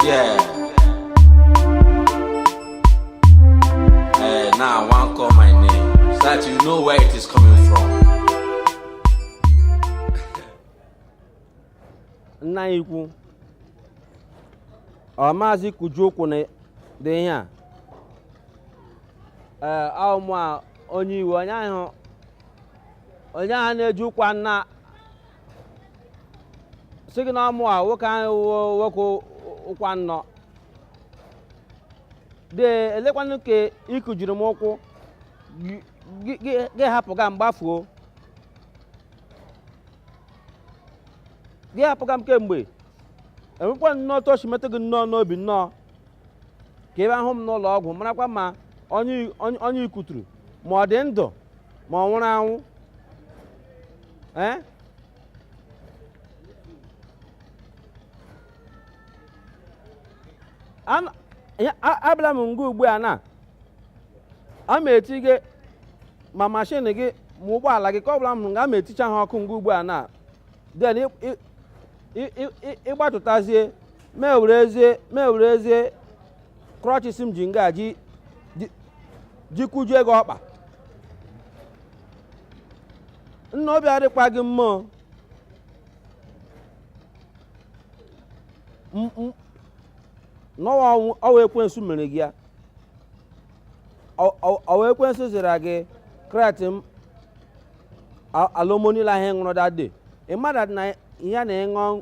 Yeah. Hey, now one call my name so that you know where it is coming from. nna ikwu ọ maazị kụjie ụkwụ na dị ihe a ee ọ mụ a onye iwe onye ahụ onye ahụ na-eji ụkwụ nna sị gị na ọ mụ a nwoke ahụ wụ nwoke ụkwụ nnọọ dee lekwanụ ka ị kụjiri m ụkwụ gị- gị- gị gị hapụ ga m gbafuo gị hapụ ga m kemgbe enwekwa nnọọ otu o si metụ gị nnọọ n'obi nnọọ ka ị bịa hụ m n'ụlọ ọgwụ marakwa ma onye ị kụturu ma ọ dị ndụ ma ọ nwụrụ anwụ abịala m nga ugbu a na a ma eti gị ma mashin gị ma ụgbọala gị ka ọ bụla m nga a ma eticha ha ọkụ nga ugbu a na then ị gbatụtazie m werezie m werezie crutches m ji nga ji ji- ji kụjie gị ọkpa nna obi adịkwa gị mma o. M- m- n'ọwa ọnwụ- ọ wụ ekwensu mere gị ya Ọ- ọ- ọ wụ ekwensu zira gị crate a- Alomo niile ahụ ị ṅụrụ dade ị mada na ihe a na-eṅụ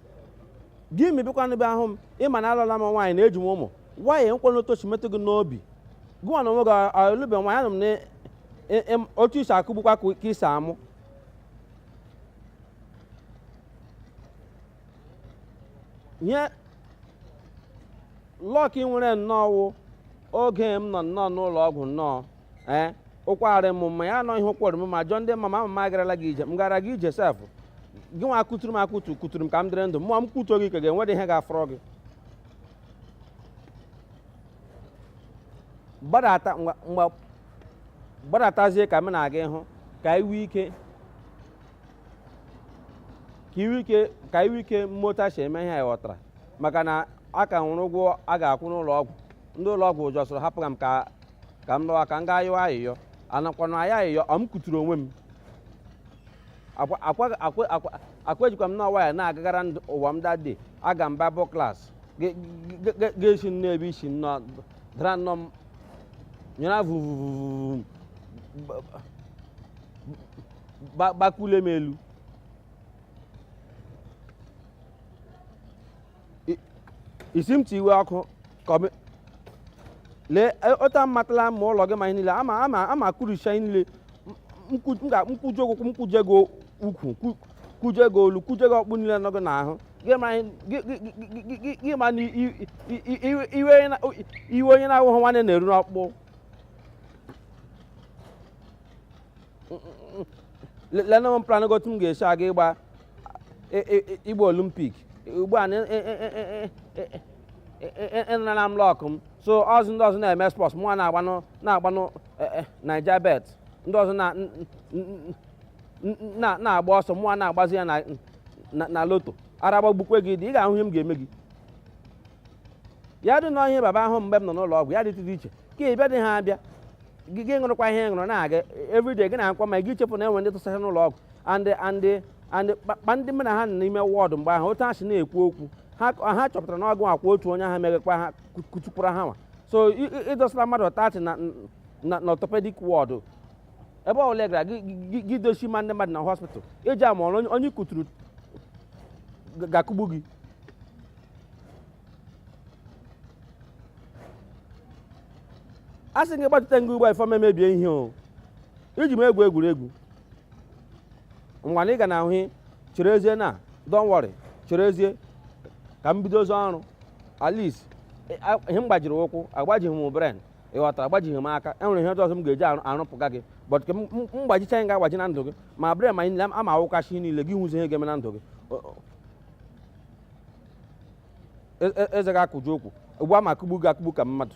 gị mebikwanụ bịa hụ m ị ma na alụọla m nwaanyị na eji m ụmụ nwaanyị nwekwanụ otu o si metụ gị n'obi gị nwa na onwe gị alụbe nwaanyị anụ m na e- em- otu i si akụgbukwa ka ka i si amụ ihe luck i nwere nnọọ wụ oge m nọ nnọọ n'ụlọ ọgwụ nnọọ ee ụkwụ arị m mma ya anọghị ụkwụ rị m mma jụọ ndị ma m ama m agarala gị ije m gara gị ije sef gị nwa kụturu m akụtu kụturu m ka m dịrị ndụ mụwa m kụtuo gị ka ga-enwedị ihe ga-afọrọ gị gbadata ngwa- ngwa- gbadatazie ka m na-aga ịhụ ka iwe ike ka iwe ike ka iwe ike mmota si eme ihe anyị ghọtara maka na a ka nwụrụ ụgwọ a ga-akwụ n'ụlọ ọgwụ ndị ụlọ ọgwụ ụjọ sọrọ hapụ ka m ka ka m lọwa ka m gaa yọọ ayịyọ anakwanụ ayọ ayịyọ ọ m kuturu onwe m akwajikwa m n'ụwa ya na-agagara n'ụwa m dade aga m babụ klas ga-esi nnọọ ebe i si nnọọ dara nnọọ m nyere vuvu gbakule m elu isi m ti iwe ọkụ lee otu a matala ma ụlọ gị ma ihe niile ama kuricha ihe niile m kujie gị ụkwụ m kujie gị ukwu kujie gị olu kujie gị ọkpụ niile nọ gị n'ahụ gị ma na iwe onye na-awụghị nwanne na-eru n'ọkpụ lenụ m plan otu m ga-esi aga ịgba ịgba olimpik ugbu a ị nara m lọkụ m so ọzọ ndị ọzọ na-eme spọs mụnwa na-agbanụ naija bet ndị ọzọ na-agba ọsọ mụnwa na-agbazi ya na loto ara gbagbukwe gị dị ị ga-ahụ ihe m ga-eme gị ya dị na ihe baba ahụ mgbe m nọ n'ụlọ ọgwụ ya dịtụ dị iche ka ị bịa dị ha abịa gị ṅụrụkwa ihe ị ṅụrụ na-aga everyday gị na-akwa ma gị chefu na enwe ndị tụsara n'ụlọ ọgwụ and kpa ndị mụ na ha nọ n'ime wọọdụ mgbe ahụ otu ha si na-ekwu okwu ha chọpụtara na ọ ga-awụkwa otu onye ahụ megakwa ha kutukwara ha nwa so ị dọsara mmadụ tati na orthopedic wọọdụ ebe ọ bụla ị gara gị dochi ma ndị mmadụ na hospital i ji ama na onye kuturu ga-akụgbu gị a sị gị gbatụta nga ugbo ifeọma emebie ihe o iji m egwu egwuregwu ngwa na ị ga na ahụ cherezie na don't worry cherezie ka m bidozie ọrụ at least ihe m gbajiri ụkwụ agbajighị m brain ị ghọtara agbajighị m aka enwere ihe ọzọ m ga-eji arụpụga gị but ka m gbajicha ihe m ga-agbaji na ndụ gị ma brain ma ama awụkachi niile gị hụzi ihe ga-eme na ndụ gị eze ga-akụju okwu ugbu a ma akụgbu gị akụgbu ka mmadụ